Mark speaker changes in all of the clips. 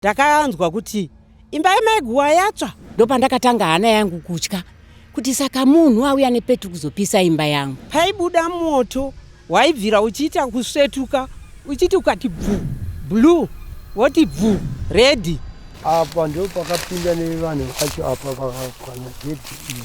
Speaker 1: ndakanzwa kuti imba yamai guwa yatsva ndopandakatanga hana
Speaker 2: yangu kutya kuti saka munhu auya nepetru kuzopisa imba yangu paibuda moto
Speaker 1: waibvira uchiita kusvetuka uchiti ukati bvu blue woti bvu redi apa ndo
Speaker 3: pakapinda nevanhu vacho apa vakakwana gedhi iyi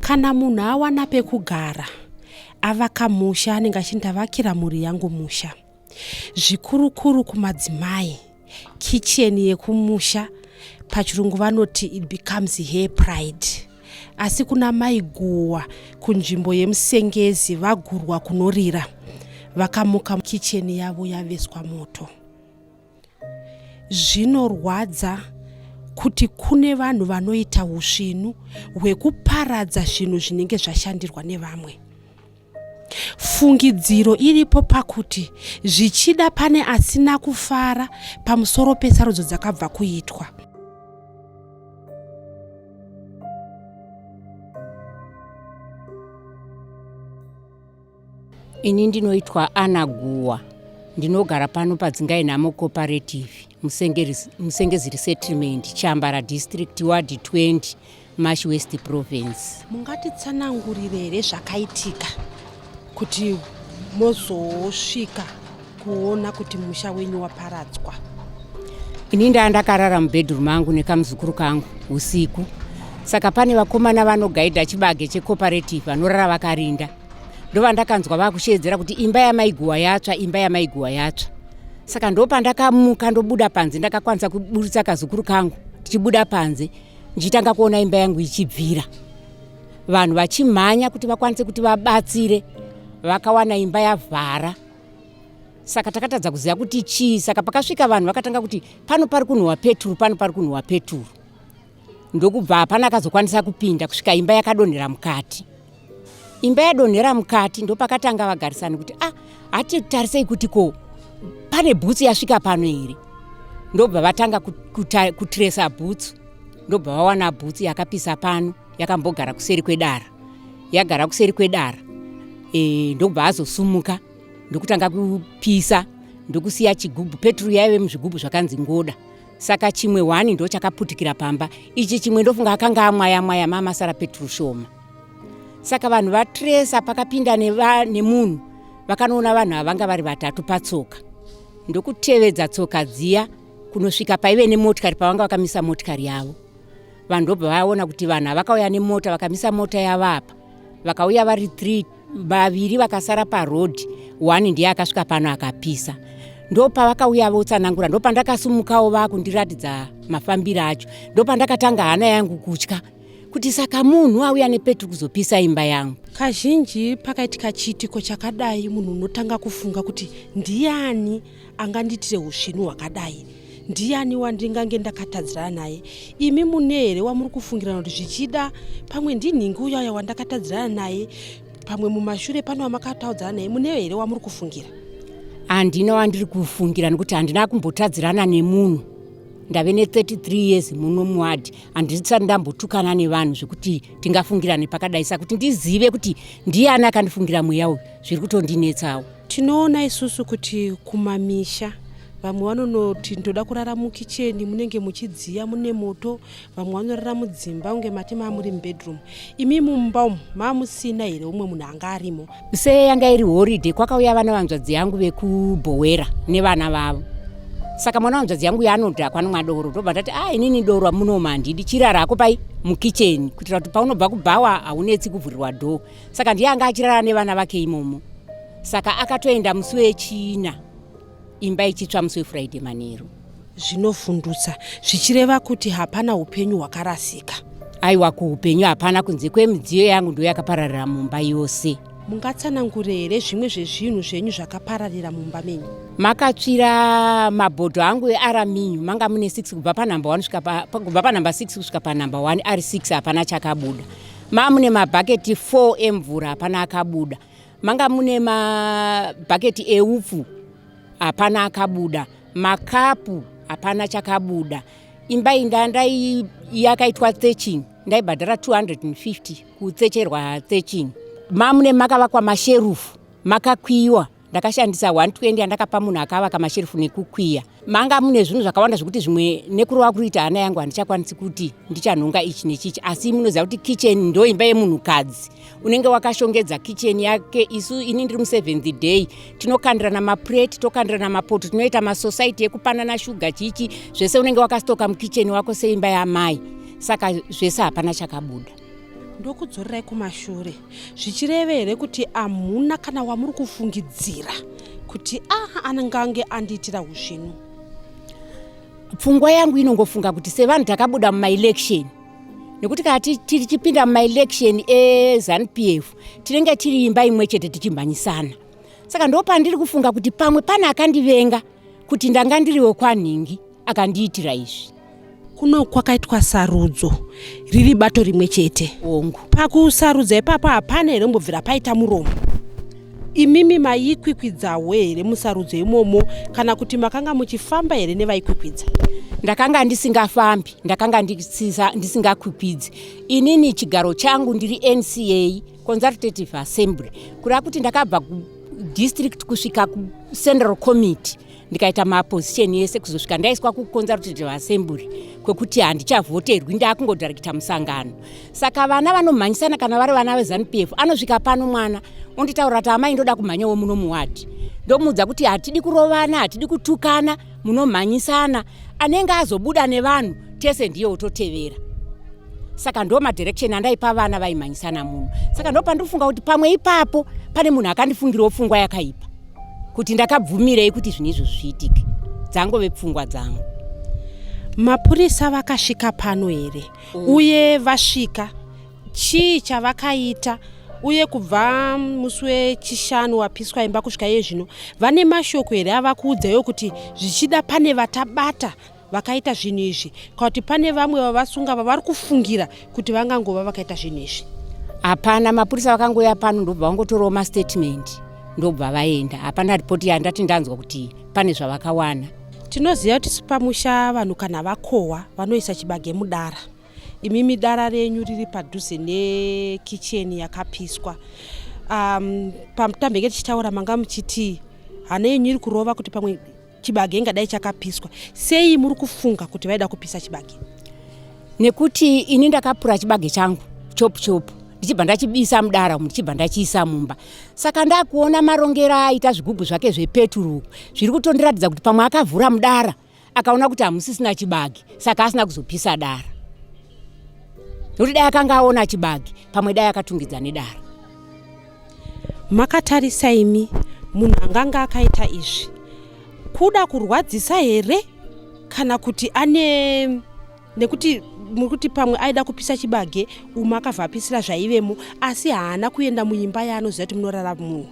Speaker 4: kana munhu awana pekugara avaka musha anenge achindavakira mhuri yangu musha zvikurukuru kumadzimai kitchen yekumusha pachirungu vanoti it becomes her pride asi kuna mai guwa kunzvimbo yemusengezi vagurwa kunorira vakamuka kitchen yavo yaveswa moto zvinorwadza kuti kune vanhu vanoita usvinu hwekuparadza zvinhu zvinenge zvashandirwa nevamwe Fungidziro iripo pakuti zvichida pane asina kufara pamusoro pesarudzo dzakabva kuitwa.
Speaker 2: Ini ndinoitwa Ana Guwa, ndinogara pano paDzingainhamo Cooperative, Musengeziri Settlement, Chambara District, Ward 20. Mash West Province. Mungatitsanangurire
Speaker 4: here zvakaitika kuti mozosvika kuona kuti musha wenyu waparadzwa?
Speaker 2: Ini ndaa ndakarara mubedroom angu nekamuzukuru kangu usiku, saka pane vakomana vanogaidha chibage checooperative vanorara vakarinda, ndovandakanzwa vakusheedzera kuti imba yamaiguwa yatsva, imba yamaiguwa yatsva. Saka ndopandakamuka ndobuda panze, ndakakwanisa kuburitsa kazukuru kangu tichibuda panze ndichitanga kuona imba yangu ichibvira vanhu vachimhanya kuti vakwanise kuti vabatsire vakawana imba yavhara saka takatadza kuziva kuti chii saka pakasvika vanhu vakatanga kuti pano pari kunhuhwa peturu pano pari kunhuhwa peturu ndokubva hapana akazokwanisa kupinda kusvika imba yakadonhera mukati imba yadonhera mukati ndopakatanga vagarisani kuti ah hati tarisei kuti ko pane bhutsu yasvika pano here ndobva vatanga kutresa bhutsu ndobva vawana bhutsu yakapisa pano yakambogara kuseri kwedara yagara kuseri kwedara e, ndobva azosumuka ndokutanga kupisa ndokusiya chigubhu peturu yaive muzvigubhu zvakanzi ngoda saka chimwe hwani ndo chakaputikira pamba ichi chimwe ndofunga akanga amwaya mwaya mamasara peturu shoma saka vanhu vatresa pakapinda nemunhu vakanoona vanhu avanga vari vatatu patsoka ndokutevedza tsoka dziya kunosvika paive nemotikari pavanga vakamisa motikari yavo vanhu ndobva vaona kuti vanhu avakauya nemota vakamisa mota yavapa vakauya vari three vaviri vakasara paroad one ndiye akasvika pano akapisa ndopavakauya votsanangura ndopandakasumukawo vakundiratidza mafambiro acho ndopandakatanga hana yangu kutya kuti saka munhu auya nepetri kuzopisa imba yangu kazhinji
Speaker 4: pakaitika chiitiko chakadai munhu unotanga kufunga kuti ndiani anganditire usvinu hwakadai ndiani wandingange ndakatadzirana naye imi mune here wamuri kufungirana kuti zvichida pamwe ndinhingi uyaya wandakatadzirana naye pamwe mumashure pano wamakataudzana naye mune here wamuri kufungira handina
Speaker 2: wandiri kufungira nekuti handina kumbotadzirana nemunhu ndave ne33 years muno muwadi handisati ndambotukana nevanhu zvekuti tingafungirane pakadai sakuti ndizive kuti ndiani akandifungira mweya uyu zviri kutondinetsawo Tinoona isusu
Speaker 4: kuti kumamisha vamwe vanonoti ndoda kurara mukicheni munenge muchidziya mune moto vamwe vanorara mudzimba kunge mati maamuri mubedroom imi mumba umu maamusina here umwe munhu anga arimo se yanga iri
Speaker 2: horiday kwakauya vana vanzvadzi yangu vekubhowera nevana vavo saka mwana wanzvadzi yangu yaanodhakwa anomwa doro ndobva ndati a ah, inini doro amunoma handidi chirara hako pai mukicheni kuitira kuti paunobva kubhawa haunetsi kuvhurirwa dhoo saka ndiye anga achirara nevana vake imomo saka akatoenda musi wechina imba ichitsva musi wefriday manheru zvinovhundutsa
Speaker 4: zvichireva kuti hapana upenyu hwakarasika aiwa kuupenyu
Speaker 2: hapana kunze kwemidziyo yangu ndo yakapararira mumba yose mungatsanangure
Speaker 4: here zvimwe zvezvinhu zvenyu zvakapararira mumba menyu makatsvira
Speaker 2: mabhodho angu earaminyu manga mune 6 kubva panumber 1 kubva panumber 6 kusvika panumber 1 ari 6 hapana chakabuda ma mune mabhaketi 4 emvura hapana akabuda manga mune mabhaketi eupfu hapana akabuda makapu hapana chakabuda imba inda ndai yakaitwa theching ndaibhadhara 250 kutsecherwa theching mamune makavakwa masherufu makakwiwa ndakashandisa 120 yandakapa munhu akavaka masherufu nekukwiya manga mune zvinhu zvakawanda zvekuti zvimwe nekurova kuriita hana yangu handichakwanisi kuti ndichanhonga ichi nechichi asi munoziva kuti kicheni ndo imba yemunhukadzi unenge wakashongedza kicheni yake isu ini ndiri museventh day tinokandirana mapureti tokandirana mapoto tinoita masosaiti ekupanana shuga chichi zvese unenge wakastoka mukicheni wako seimba yamai saka zvese hapana chakabuda ndokudzorerai
Speaker 4: kumashure zvichireve here kuti hamuna kana wamuri kufungidzira kuti aha anenge ange andiitira huzvinu
Speaker 2: pfungwa yangu inongofunga kuti sevanhu takabuda mumaelection nekuti kana tichipinda mumaelection ezanup f tinenge tiri imba imwe chete tichimhanyisana saka ndo pandiri kufunga kuti pamwe pane akandivenga kuti ndanga ndiri wekwanhingi akandiitira izvi kuno
Speaker 4: kwakaitwa sarudzo riri bato rimwe chete ongu pakusarudza
Speaker 2: ipapo
Speaker 4: hapana here mbobvira paita muromo imimi maikwikwidzahwo here musarudzo imomo kana kuti makanga muchifamba here nevaikwikwidza ndakanga
Speaker 2: ndisingafambi ndakanga ndisingakwikwidzi inini chigaro changu ndiri nca consultative assembly kuda kuti ndakabva kudistrict kusvika kucentral committee ndikaita maposition yese kuzosvika ndaiswa kuconsultative assembly kwekuti handichavhoterwi ndaakungodirekita musangano saka vana vanomhanyisana kana vari vana vezanup f anosvika pano mwana onditaura kuti amai ndoda kumhanyawo muno muwadi ndomuudza kuti hatidi kurovana hatidi kutukana munomhanyisana anenge azobuda nevanhu tese ndiye ototevera saka ndo madirection andaipa vana vaimhanyisana muno saka ndo pandiri kufunga kuti pamwe ipapo pane munhu akandifungirawo pfungwa yakaipa kuti ndakabvumirei kuti zvinhu izvo zviitike dzangove pfungwa dzangu
Speaker 4: mapurisa vakasvika pano here mm. uye vasvika chii chavakaita uye kubva musi wechishanu wapiswa imba kusvika iye zvino vane mashoko here ava kuudza yo kuti zvichida pane vatabata vakaita zvinhu izvi kana kuti pane vamwe vavasunga vavari kufungira kuti vangangova vakaita zvinhu izvi hapana
Speaker 2: mapurisa vakangouya pano ndobva vangotorawo mastatement ndobva vaenda hapana ripoti yandati ndanzwa kuti pane zvavakawana tinoziva kuti
Speaker 4: sipamusha vanhu kana vakohwa vanoisa chibage mudara imi midara renyu riri padhuze nekicheni yakapiswa um, pamutambenge tichitaura manga muchiti hana yenyu iri kurova kuti pamwe chibage ingadai chakapiswa sei muri kufunga kuti vaida kupisa chibage nekuti
Speaker 2: ini ndakapura chibage changu chopu chopu ndichibva ndachibisa mudara umu ndichibva ndachiisa mumba saka ndakuona marongero aita zvigubhu zvake zvepeturu zviri kutondiratidza kuti pamwe akavhura mudara akaona kuti hamusisina chibage saka asina kuzopisa dara nekuti dai akanga aona chibage pamwe dai akatungidza nedara
Speaker 4: makatarisa imi munhu anganga akaita izvi kuda kurwadzisa here kana kuti ane nekuti muri kuti pamwe aida kupisa chibage umwe akabva apisira zvaivemo asi haana kuenda muimba yaanoziva kuti munorara munhu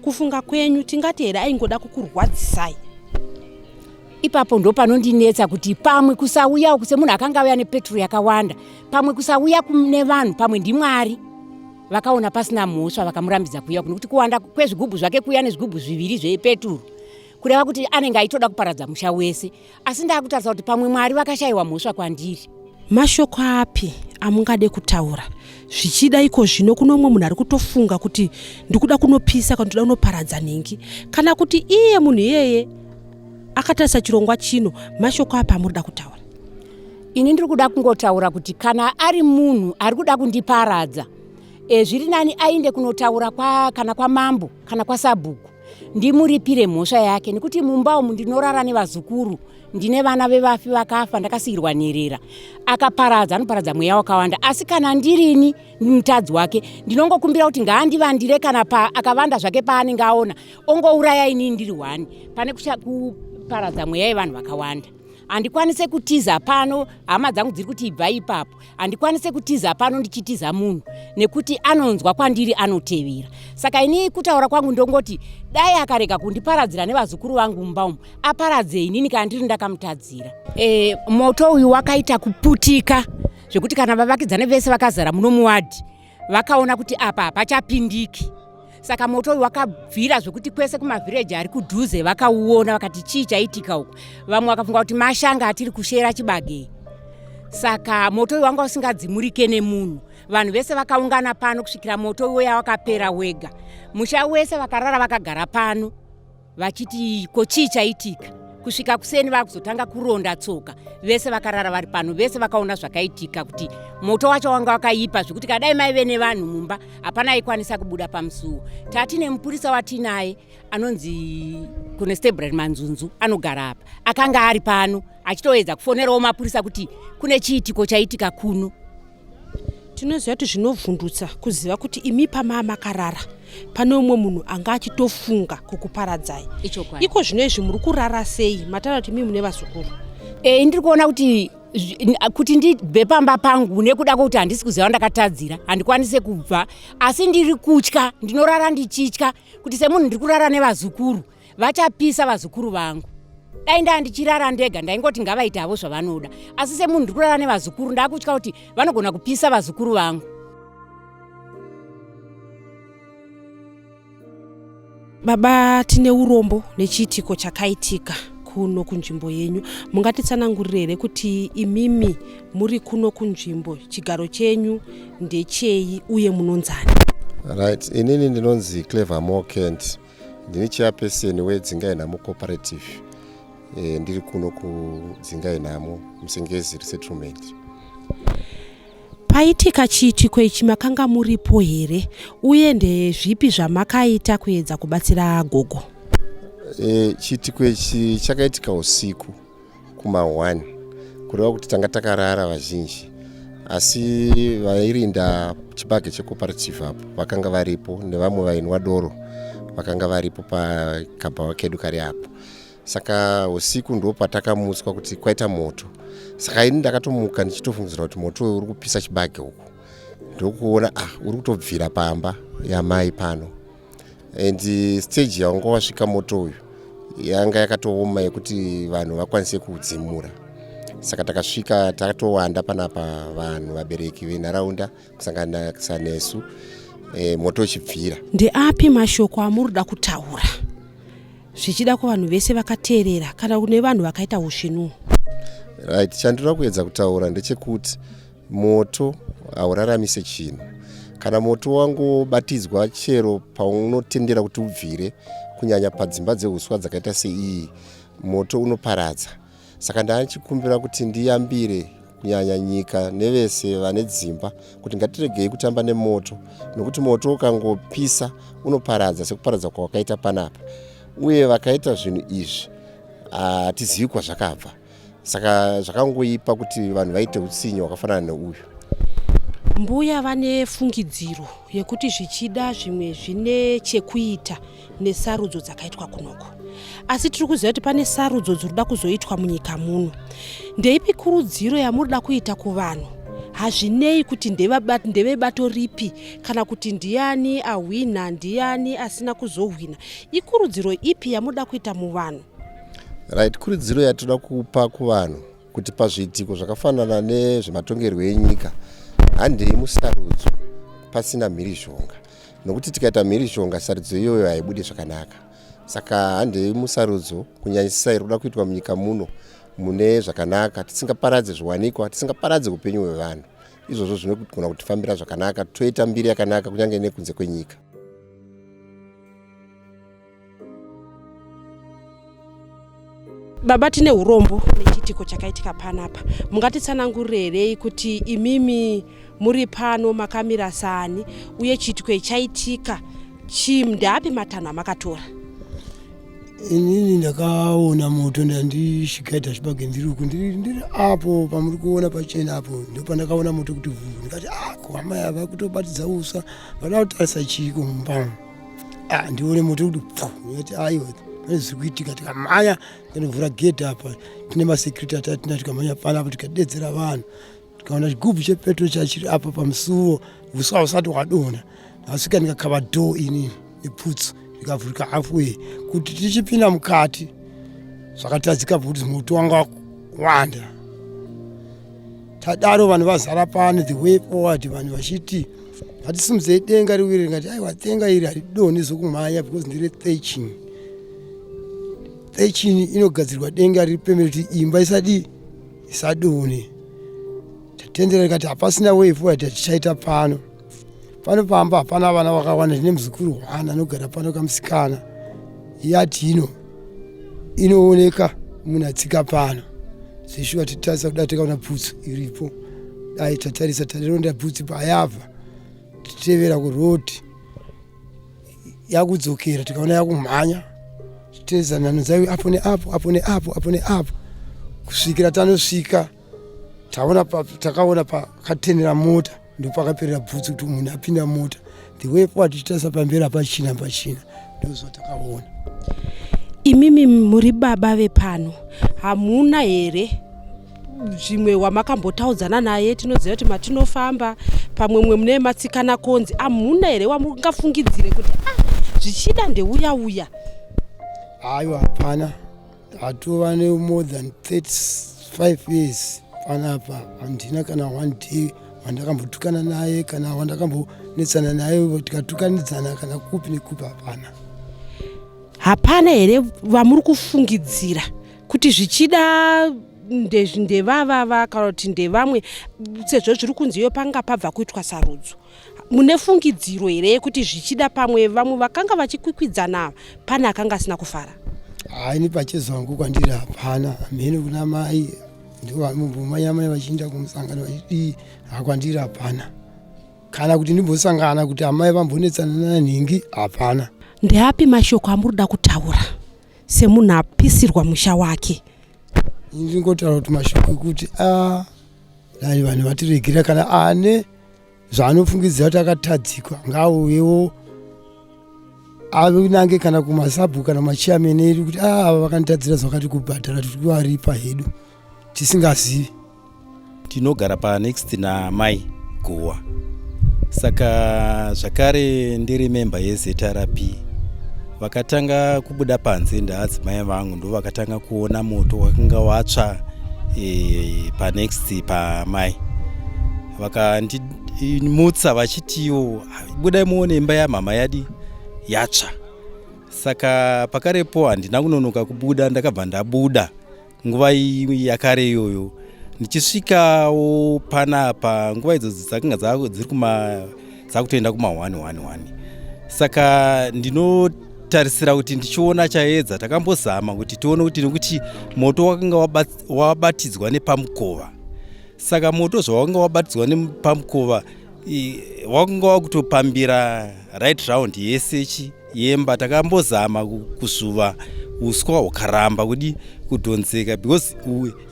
Speaker 4: kufunga kwenyu tingati here aingoda kukurwadzisai
Speaker 2: ipapo ndo panondinetsa kuti pamwe kusauyawo kuse munhu akanga auya nepetrol yakawanda pamwe kusauya kune vanhu pamwe ndimwari vakaona pasina mhosva vakamurambidza kuya kunokuti kuwanda kwezvigubhu zvake kuya nezvigubhu zviviri zvepeturu kureva kuti anenge aitoda kuparadza musha wese asi ndaakutarisa kuti pamwe mwari vakashayiwa mhosva kwandiri mashoko
Speaker 4: api amungade kutaura zvichida iko zvino kuno umwe munhu ari kutofunga kuti ndikuda kunopisa kana ndikuda kunoparadza nhingi kana kuti iye munhu iyeye akatarisa chirongwa chino mashoko api amurida kutaura ini ndiri
Speaker 2: kuda kungotaura kuti kana ari munhu ari kuda kundiparadza e, zviri nani ainde kunotaura kwa, kana kwamambo kana kwasabhuku ndimuripire mhosva yake nekuti mumba umu ndinorara nevazukuru ndine vana vevafi vakafa ndakasiyirwa nherera akaparadza anoparadza mweya wakawanda asi kana ndirini mutadzi wake ndinongokumbira kuti ngaandivandire kana pa akavanda zvake paanenge aona ongouraya inini ndiri hwani pane kuparadza mweya yevanhu vakawanda handikwanise kutiza pano hama dzangu dziri kuti ibva ipapo handikwanise kutiza pano ndichitiza munhu nekuti anonzwa kwandiri anotevera saka ini kutaura kwangu ndongoti dai akarega kundiparadzira nevazukuru vangu mumba umu aparadze inini kana ndiri ndakamutadzira e, moto uyu wakaita kuputika zvekuti kana vavakidzani vese vakazara muno muwadhi vakaona kuti apa hapachapindiki saka moto uyu wakabvira zvekuti kwese kumavhireji ari kudhuze vakauona vakati chii chaitika uku vamwe vakafunga kuti mashanga atiri kushera chibagei saka moto uyu wanga usingadzimurike nemunhu vanhu vese vakaungana pano kusvikira moto uyo yawakapera wega musha wese vakarara vakagara pano vachiti ko chii chaitika kusvika kuseni vakuzotanga kuronda tsoka vese vakarara vari pano vese vakaona zvakaitika kuti moto wacho wanga wakaipa zvekuti kadai maive nevanhu mumba hapana aikwanisa kubuda pamusuwo tati nemupurisa watinaye anonzi conestable manzunzu anogara apa akanga ari pano achitoedza kufonerawo mapurisa kuti kune chiitiko chaitika kuno
Speaker 4: tinoziva kuti zvinovhundutsa kuziva kuti imi pamaa makarara pane umwe munhu anga achitofunga kukuparadzai iko zvino izvi muri kurara sei matara kuti imi mune vazukuru e, ndiri kuona
Speaker 2: kuti kuti ndibve pamba pangu nekuda kwekuti handisi kuziva vandakatadzira handikwanise kubva asi ndiri kutya ndinorara ndichitya kuti semunhu ndiri kurara nevazukuru vachapisa vazukuru vangu dai ndaa ndichirara ndega ndaingoti ngavaite havo zvavanoda asi semunhu ndiri kurara nevazukuru ndaakutya kuti vanogona kupisa vazukuru vangu
Speaker 4: baba tine urombo nechiitiko chakaitika kuno kunzvimbo yenyu mungatitsanangurire here kuti imimi muri kuno kunzvimbo chigaro chenyu ndechei uye munonzani right
Speaker 5: inini ndinonzi clever mokent ndini chairperson wedzingai nhamo cooperative e, ndiri kuno kudzingai nhamo musengezi resettlement
Speaker 4: paitika chiitiko ichi makanga muripo here uye ndezvipi zvamakaita kuedza kubatsira gogo e,
Speaker 5: chiitiko ichi chakaitika usiku kuma 1 kureva kuti tanga takarara vazhinji asi vairinda chibage checooperative apo vakanga varipo nevamwe vainwa doro vakanga varipo pakabhawa kedu kari apo saka usiku ndo patakamutswa kuti kwaita moto saka ini ndakatomuka ndichitofungidzira kuti moto uyu uri kupisa chibage uku ndokuona ah uri kutobvira pamba yamai pano and stage yawanga wasvika moto uyu yanga yakatooma yekuti vanhu vakwanise kudzimura saka takasvika takatowanda panapa vanhu vabereki venharaunda kusanganisa nesu e, moto uchibvira ndeapi mashoko
Speaker 4: amuri kuda kutaura zvichida kuvanhu vese vakateerera kana kune vanhu vakaita usvinuwo right
Speaker 5: chandinoda kuedza kutaura ndechekuti Moto hauraramise chinhu. Kana moto wangobatidzwa chero paunotendera kuti ubvire, kunyanya padzimba dzehuswa dzakaita seiyi, moto unoparadza. Saka ndanichikumbira kuti ndiyambire kunyanya nyika nevese vane dzimba kuti ngatiregei kutamba nemoto nokuti moto ukangopisa unoparadza sekuparadza kwawakaita panapa uye vakaita zvinhu izvi hatizivi kwazvakabva saka zvakangoipa kuti vanhu vaite utsinye hwakafanana neuyu
Speaker 4: mbuya vane fungidziro yekuti zvichida zvimwe zvine chekuita nesarudzo dzakaitwa kunoko asi tiri kuziva kuti pane sarudzo dziri kuda kuzoitwa munyika muno ndeipi kurudziro yamuri da kuita kuvanhu hazvinei kuti ndevebato ripi kana kuti ndiani ahwina ndiani asina kuzohwina ikurudziro ipi yamuda kuita muvanhu right
Speaker 5: kurudziro yatinoda kupa kuvanhu kuti pazviitiko zvakafanana nezvematongerwo enyika handei musarudzo pasina mhirizhonga nokuti tikaita mhirizhonga sarudzo iyoyo haibude zvakanaka saka handei musarudzo kunyanyisisa iri kuda kuitwa munyika muno mune zvakanaka tisingaparadze zviwanikwa tisingaparadze upenyu hwevanhu izvozvo zvinogona kutifambira zvakanaka toita mbiri yakanaka kunyange nekunze kwenyika
Speaker 4: baba tine urombo nechiitiko chakaitika panapa mungatitsanangurirei kuti imimi muri pano makamira sani uye chiitiko ichaitika chii ndeapi matanho amakatora
Speaker 3: inini ndakaona moto ndandisvikaita zvibage ndiri uku ndiri apo pamuri kuona pachena apo ndopandakaona moto kuti vhuu ndikati ako ah, amai ava kutobatidza usa vada kutarisa chiiko mumbamo Ah, ndione moto kuti pfu ndikati aiwa pane zviri kuitika tikamhanya tanovhura gedhi apa tine masecurity atatina tikamhanya pana apo tikadedzera vanhu tikaona chigubhu chepetro chachiri apa pamusuwo uswa usati hwadona ndasvika ndikakava dho ini neputsu ndikavhurika halfway kuti tichipinda mukati zvakatadzika kuti moto wanga wanda tadaro vanhu vazara pano the way forward vanhu vachiti hatisimudzei denga riwiri ringati aiwa denga iri haridoni zvokumhanya because ndire thechin thechin inogadzirwa denga riri pemeri kuti imba isadi isadoni tatendera rikati hapasina way forward hatichaita pano pano pamba hapana vana vakawanda zvine muzukuru hwana anogara pano kamusikana yati ino inooneka munhu atsika pano zvishuwa titarisa kuda takaona bhutsu iripo dai tatarisa tarironda bhutsu payabva titevera kuroti yakudzokera tikaona yakumhanya titezanano dzaive apo neapo apo neapo apo neapo kusvikira tanosvika taona pa, takaona pakatenera mota ndopakaperera bvutsu kuti munhu apinda mota the way pawatichitasa pamberi apachina pachina ndozvatakaona
Speaker 4: imimi muri baba vepano hamuna here zvimwe wamakambotaudzana naye tinoziva kuti matinofamba pamwe mwe mune matsikana konzi hamuna here wamungafungidzire kuti ah, zvichida ndeuya uya
Speaker 3: haiwa hapana Hatova ne more than 35 years panapa handina kana one day wandakambotukana naye kana wandakambonetsana naye tikatukanidzana kana kupi nekupi hapana.
Speaker 4: Hapana here vamuri kufungidzira kuti zvichida ndevavava kana kuti ndevamwe sezvo zviri kunziyo panga pabva kuitwa sarudzo? mune fungidziro here yekuti zvichida pamwe vamwe vakanga vachikwikwidzana pane akanga asina kufara haini
Speaker 3: pachezangu kwandiri hapana hamhene kuna mai ndivamumanyamai vachiinda kumusangano vachidii hakwandiri hapana kana kuti ndimbosangana kuti amai vambonetsana nanhingi hapana ndeapi mashoko
Speaker 4: amuri da kutaura semunhu apisirwa musha wake ndingotaura
Speaker 3: kuti mashoko ekuti a ah, dai vanhu vatiregera kana ane ah, zvaanofungidzira kuti akatadzikwa ngaauyewo anange kana kumasabhu kana machiamene edu kuti ah, ava vakanditadzira zvakati kubhadhara tiri kuvaripa hedu tisingazivi
Speaker 6: tinogara panext namai guwa saka zvakare ndiri memba yezrp vakatanga kubuda panze ndaadzimai vangu ndo vakatanga kuona moto wakanga watsva e, panext pamai vakandimutsa vachitiwo budai muone imba yamhama yadi yatsva saka pakarepo handina kunonoka kubuda ndakabva ndabuda nguva yakare iyoyo ndichisvikawo panapa nguva idzo dzakanga dziri kuma dzakutoenda kuma 111 saka ndinotarisira kuti ndichiona chaedza takambozama kuti tione kuti nekuti moto wakanga wabatidzwa nepamukova saka moto zvawakanga wabatidzwa nepamukova wakanga wakutopambira right round yese chi yemba takambozama kusuva uswa hwakaramba kudi kudhonzeka because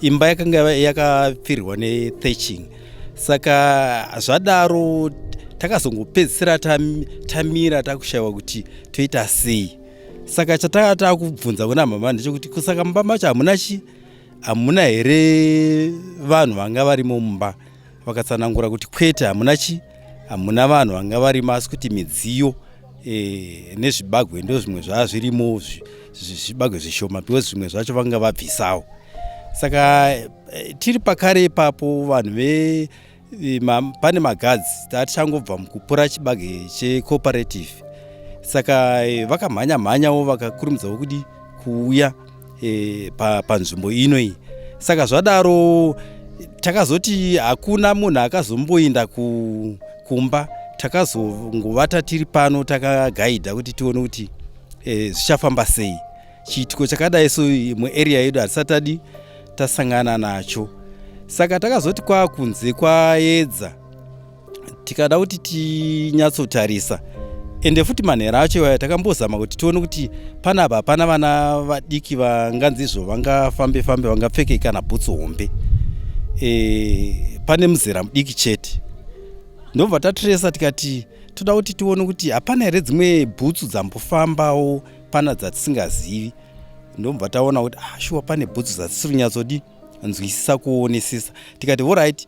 Speaker 6: imba yakanga yakapfirirwa netheching saka zvadaro takazongopedzisira tamira takushaiwa kuti toita sei saka chatanga takubvunza kuna mama ndechekuti kusaka mumba macho hamuna chi hamuna here vanhu vanga varimo mumba vakatsanangura kuti kwete hamuna chi hamuna vanhu vanga varimo asi kuti midziyo eh, nezvibagwe ndo zvimwe zvaa zvirimo zvibagwe zvishoma because zvimwe zvacho vanga vabvisawo saka eh, tiri pakare ipapo vanhu ve ma, pane magadzi tatichangobva mukupura chibage checooperative saka eh, vakamhanya mhanyawo vakakurumidzawo kudi kuuya e, pa, panzvimbo ino iyi saka zvadaro takazoti hakuna munhu akazomboinda ku, kumba takazongovata tiri pano takagaidha kuti tione kuti e, zvichafamba sei chiitiko chakadai so muarea yedu hatisatadi tasangana nacho saka takazoti kwakunze kwayedza tikada kuti tinyatsotarisa ende futi manhero acho iwaya takambozama kuti tione kuti pana apa hapana vana vadiki vanganzizvo vangafambe fambe vangapfeke kana bhutsu hombe e, pane muzera mudiki chete ndobva tatresa tikati toda kuti tione kuti hapana here dzimwe bhutsu dzambofambawo pana dzatisingazivi ndobva taona kuti ah, shuwa pane bhutsu dzatisiri nyatsodi nzwisisa kuonesesa tikati horit right,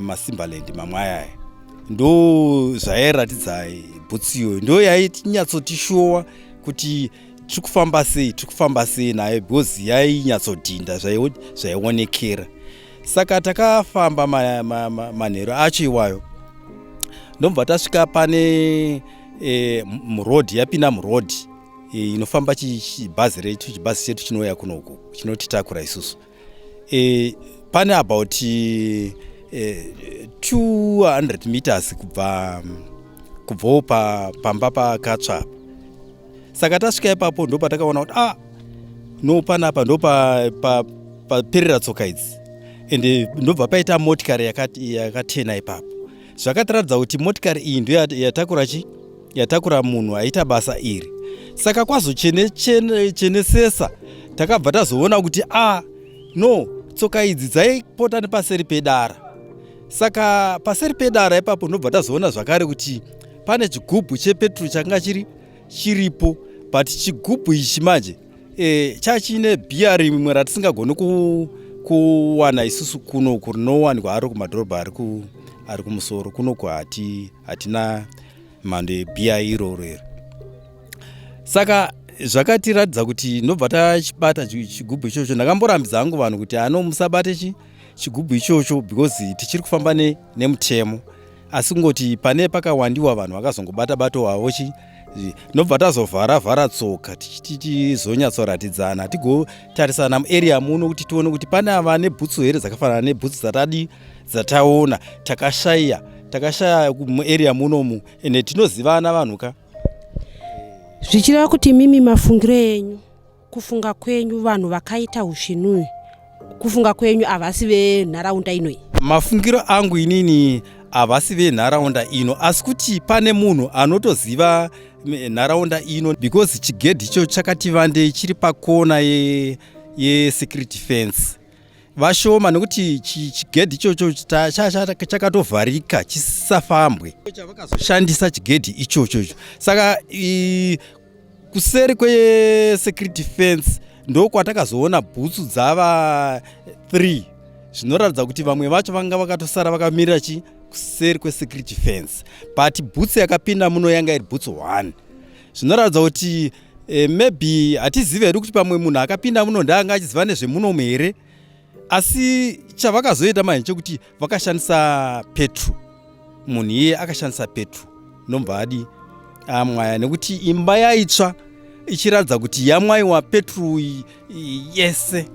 Speaker 6: masimbaland mamwe ayaya ndo zvairatidza bhutsu iyoyo ndo yainyatsotishowa kuti tiri kufamba sei tiri kufamba sei nayo because yainyatsodhinda zvaionekera saka takafamba manheru acho iwayo ndobva tasvika pane e, muroad yapinda muroad e, inofamba chibhazi retu chibhazi chetu chinouya kunoku chinotitakura isusu e, pane about e, eh, 200 meters kubva kubvawo pa, pamba pakatsva saka tasvika ipapo ndo patakaona kuti ah no panapa ndo paperera pa, pa tsoka idzi and ndobva paita motikari yakatena ipapo zvakatiratidza kuti motikari iyi ndo yatakura chii yatakura munhu aita basa iri saka kwazochenechenechenetsesa takabva tazoona kuti a ah, no tsoka idzi dzaipota nepaseri pedara saka paseri pedara ipapo ndobva tazoona zvakare kuti pane chigubhu chepetrol changa chiri chiripo but chigubhu ichi manje e, chachine bhiya rimwe ratisingagoni kuwana isusu kunoku rinowanikwa aro kumadhorobha ari kumusoro kunoku hatina mhando yebhiya iroro iri saka zvakatiratidza kuti ndobva tachibata chigubhu ichocho ndakamborambidza hangu vanhu kuti ano musabate chi chigubhu ichocho because tichiri kufamba ne, nemutemo asi kungoti pane pakawandiwa vanhu vakazongobata bato wavo chi ndobva tazovhara vhara tsoka tichizonyatsoratidzana tigotarisana muarea muno kuti tione kuti pane ava nebhutsu here dzakafanana nebhutsu dzatadi dzataona takashaya takashaya muarea munomu ende tinozivana vanhu ka
Speaker 4: zvichireva kuti mimi mafungiro enyu kufunga kwenyu vanhu vakaita usvinuyu kufunga kwenyu havasi venharaunda inoyi mafungiro angu inini
Speaker 6: havasi venharaunda ino asi kuti pane munhu anotoziva nharaunda ino because chigedhi icho chakati vandei chiri pakona yesecurity fence vashoma nekuti chigedhi ichocho chakatovharika chisafambwe chavakazoshandisa chigedhi ichocho icho saka kuseri kwesecurity fence ndokwatakazoona bhutsu dzava 3 zvinoratidza kuti vamwe vacho vanga vakatosara vakamirira chi kuseri kwesecurity fence but bhutsu yakapinda muno yanga iri bhutsu 1 zvinoratidza kuti e, maybe hatizive hedu kuti pamwe munhu akapinda muno ndaanga achiziva nezvemunomu here asi chavakazoita manje chekuti vakashandisa petro munhu iye akashandisa petro nobva adi amwaya ah, nekuti imba yaitsva ichiratidza kuti yamwaiwa petro yese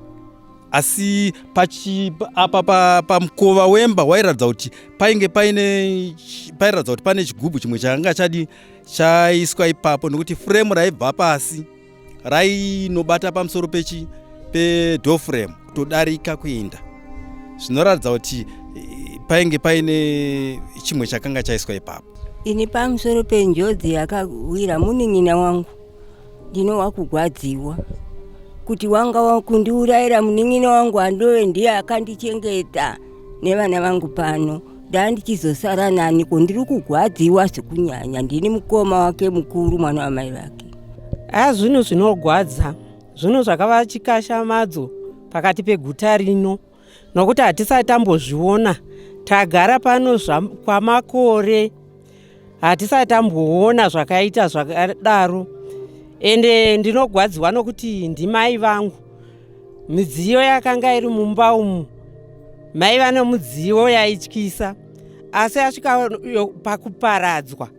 Speaker 6: asi apa pamukova pa, pa wemba wairatidza kuti painge paine pairatidza kuti pane chigubhu chimwe chakanga chadi chaiswa ipapo nokuti frame raibva pasi rainobata pamusoro pechi pedoor frame kutodarika kuenda zvinoratidza kuti eh, painge paine chimwe chakanga chaiswa ipapo ini pamusoro
Speaker 7: penjodzi yakawira munin'ina wangu ndinowa kugwadziwa kuti wanga wakundiurayira munin'ina wangu andove ndiye akandichengeta nevana vangu pano ndandichizosara naniko ndiri kugwadziwa zvekunyanya ndini mukoma wake mukuru mwana wamai vake haa zvinhu
Speaker 1: zvinogwadza zvinhu zvakava chikashamadzo pakati peguta rino nokuti hatisati tambozviona tagara pano kwamakore hatisati tamboona zvakaita zvakadaro ende ndinogwadziwa nokuti ndimai vangu midziyo yakanga iri mumba umu mai vane mudziyo yaityisa asi asvika pakuparadzwa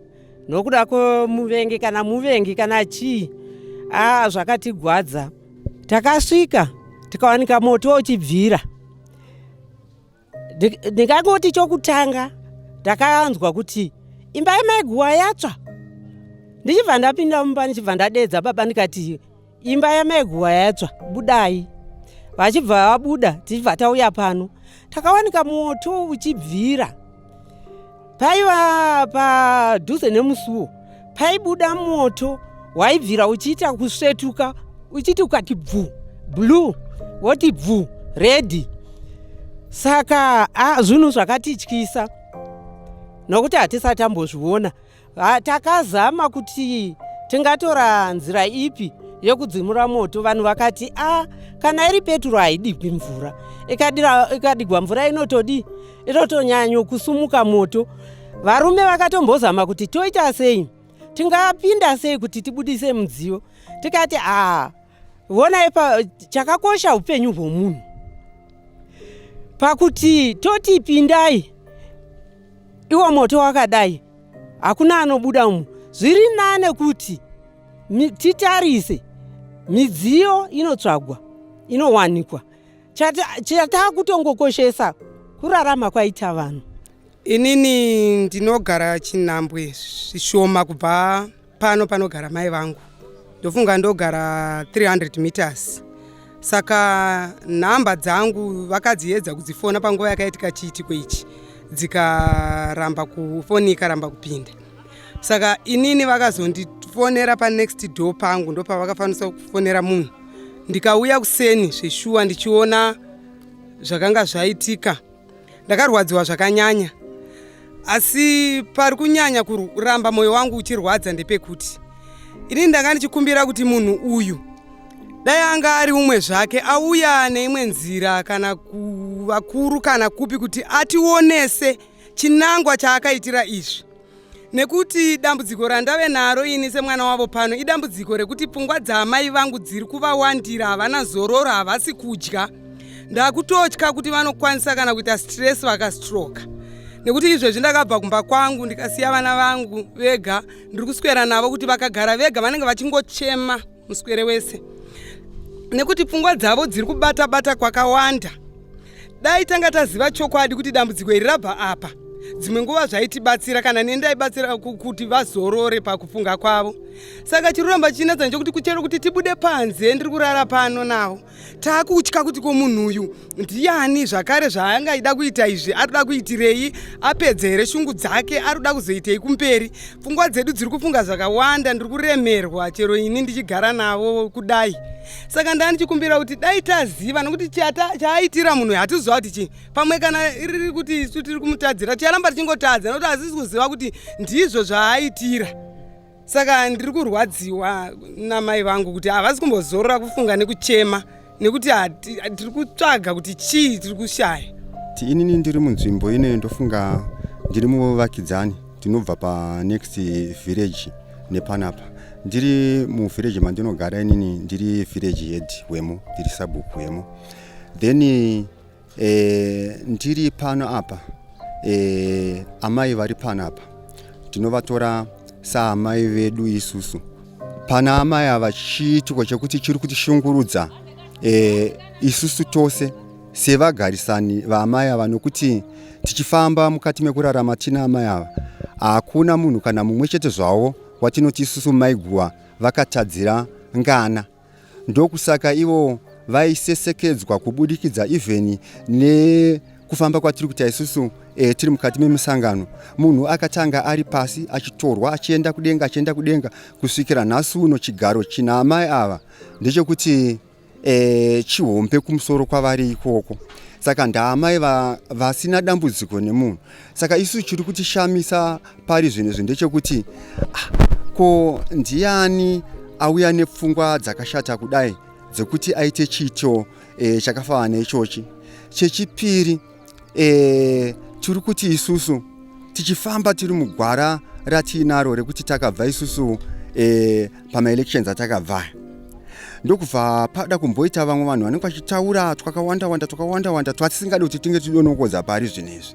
Speaker 1: nokuda kwemuvengi kana muvengi kana chii aa zvakatigwadza takasvika tikawanika moto uchibvira ndingangoti chokutanga ndakanzwa kuti imba yamaiguwa yatsva ndichibva ndapinda mumba ndichibva ndadeedza baba ndikati imba yamaiguwa yatsva budai vachibva vabuda tichibva tauya pano takawanika moto uchibvira paiva padhuze nemusuwo paibuda moto waibvira uchiita kusvetuka uchiti ukati bvu blue woti bvu redi saka zvinhu zvakatityisa nokuti hatisati ambozviona Ha, takazama kuti tingatora nzira ipi yekudzimura moto vanhu vakati a ah, kana iri peturo haidigwi mvura ikadigwa mvura inotodii inotonyanyo kusumuka moto varume vakatombozama kuti toita sei tingapinda sei kuti tibudise mudziyo tikati aa ah, Vonai pa chakakosha upenyu hwomunhu pakuti toti pindai iwo moto wakadai hakuna anobuda umu zviri nane kuti titarise midziyo inotsvagwa inowanikwa chataakutongokoshesa kurarama kwaita vanhu inini
Speaker 8: ndinogara chinhambwe zvishoma kubva pano panogara mai vangu ndofunga ndogara 300 meters saka nhamba dzangu vakadziedza kudzifona panguva yakaitika chiitiko ichi dzikaramba kufoni ikaramba kupinda saka inini vakazondifonera panext door pangu ndopavakafanisa kufonera munhu ndikauya kuseni zveshuwa ndichiona zvakanga zvaitika ndakarwadziwa zvakanyanya asi pari kunyanya kuramba mwoyo wangu uchirwadza ndepekuti ini ndanga ndichikumbira kuti munhu uyu dai anga ari umwe zvake auya neimwe nzira kana kuvakuru kana kupi kuti ationese chinangwa chaakaitira izvi nekuti dambudziko randave naro ini semwana wavo pano idambudziko rekuti pfungwa dzaamai vangu dziri kuvawandira havana zororo havasi kudya ndakutotya kuti vanokwanisa kana kuita stress vakastroka nekuti izvezvi ndakabva kumba kwangu ndikasiya vana vangu vega ndiri kuswera navo kuti vakagara vega vanenge vachingochema muswere wese nekuti pfungwa dzavo dziri kubata bata kwakawanda dai tanga taziva chokwadi kuti dambudziko iri rabva apa dzimwe nguva zvaitibatsira kana neni ndaibatsira kuti vazorore pakufunga kwavo saka chiri kuramba chinetsa ndechokuti kuchero kuti tibude panze ndiri kurara pano navo taakutya kuti ko munhu uyu ndiani zvakare zvaangaida kuita izvi arikuda kuitirei apedze here shungu dzake arikuda kuzoitei kumberi pfungwa dzedu dziri kufunga zvakawanda ndiri kuremerwa chero ini ndichigara navo kudai saka ndaa ndichikumbira kuti dai taziva nokuti chaaitira munhu hatizova kuti chii pamwe kana iriri kuti isu tiri kumutadzira ticharamba tichingotadza nokuti hasizi kuziva kuti ndizvo zvaaitira saka ndiri kurwadziwa namai vangu kuti havasi kumbozorora kufunga nekuchema nekuti tiri kutsvaga kuti chii tiri kushaya ti inini ndiri
Speaker 9: munzvimbo ine ndofunga ndiri muvakidzani tinobva panext village nepanapa ndiri muvillage mandinogara inini ndiri village head wemo ndiri sabhuku wemo then e, ndiri pano apa e, amai vari pano apa tinovatora saamai vedu isusu pana amai ava chiitiko chekuti chiri kutishungurudza e, isusu tose sevagarisani vaamai ava nokuti tichifamba mukati mekurarama tina amai ava hakuna munhu kana mumwe chete zvavo watinoti isusu maiguva vakatadzira ngana Ndokusaka ivo vaisesekedzwa kubudikidza even nekufamba kwatiri kuita isusu e, tiri mukati memusangano munhu akatanga ari pasi achitorwa achienda kudenga achienda kudenga kusvikira nhasi uno chigaro china amai ava ndechekuti e, chihombe kumusoro kwavari ikoko saka ndaamai vasina dambudziko nemunhu saka isu chiri kutishamisa pari zvinhu izvi ndechekuti ah, ko ndiani auya nepfungwa dzakashata kudai dzekuti aite chiito e, chakafanana neichochi chechipiri e, tiri kuti isusu tichifamba tiri mugwara ratiinaro rekuti takabva isusu e, pamaelections atakabva ndokubva pada kumboita vamwe vanhu vanenge vachitaura twakawanda wanda twakawanda wanda twatisingadi kuti tinge tidonokodza pari zvinhu izvi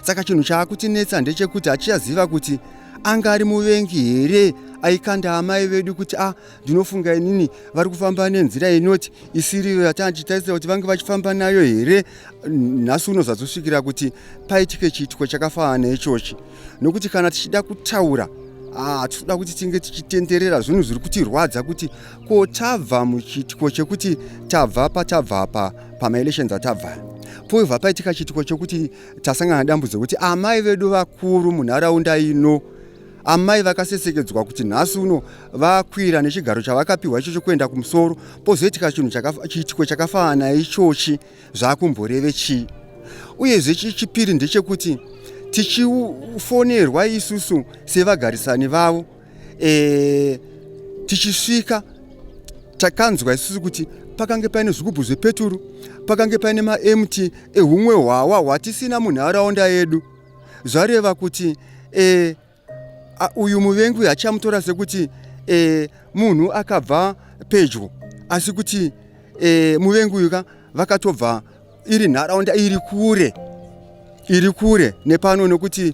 Speaker 9: saka chinhu chaakutinetsa ndechekuti achiyaziva kuti anga ari muvengi here aikanda amai vedu kuti a ah, ndinofunga inini vari kufamba nenzira inoti isiriyo yatandichitarisira kuti vange vachifamba nayo here nhasi unozazosvikira kuti paitike chiitiko chakafanana ichochi nokuti kana tichida kutaura hatitoda ah, kuti tinge tichitenderera zvinhu zviri kutirwadza kuti ko tabva muchiitiko chekuti tabva patabva apa pamaelections atabva poibva paitika chiitiko chokuti tasangana dambudzo kuti amai vedu vakuru munharaunda ino amai vakasesekedzwa kuti nhasi uno vakwira nechigaro chavakapiwa icho chokuenda kumusoro pozoitika chinhu chiitiko chakafanana ichochi zvakumboreve chii uyezve chechipiri ndechekuti tichifonerwa isusu sevagarisani vavo e, tichisvika takanzwa isusu kuti pakange paine zvigubhu zvepeturu pakange paine maemti ehumwe hwawa hwatisina munharaunda yedu zvareva kuti e, a, uyu muvengi uyu achamutora sekuti e, munhu akabva pedyo asi kuti e, muvengi uyu ka vakatobva iri nharaunda iri kure iri kure nepano nekuti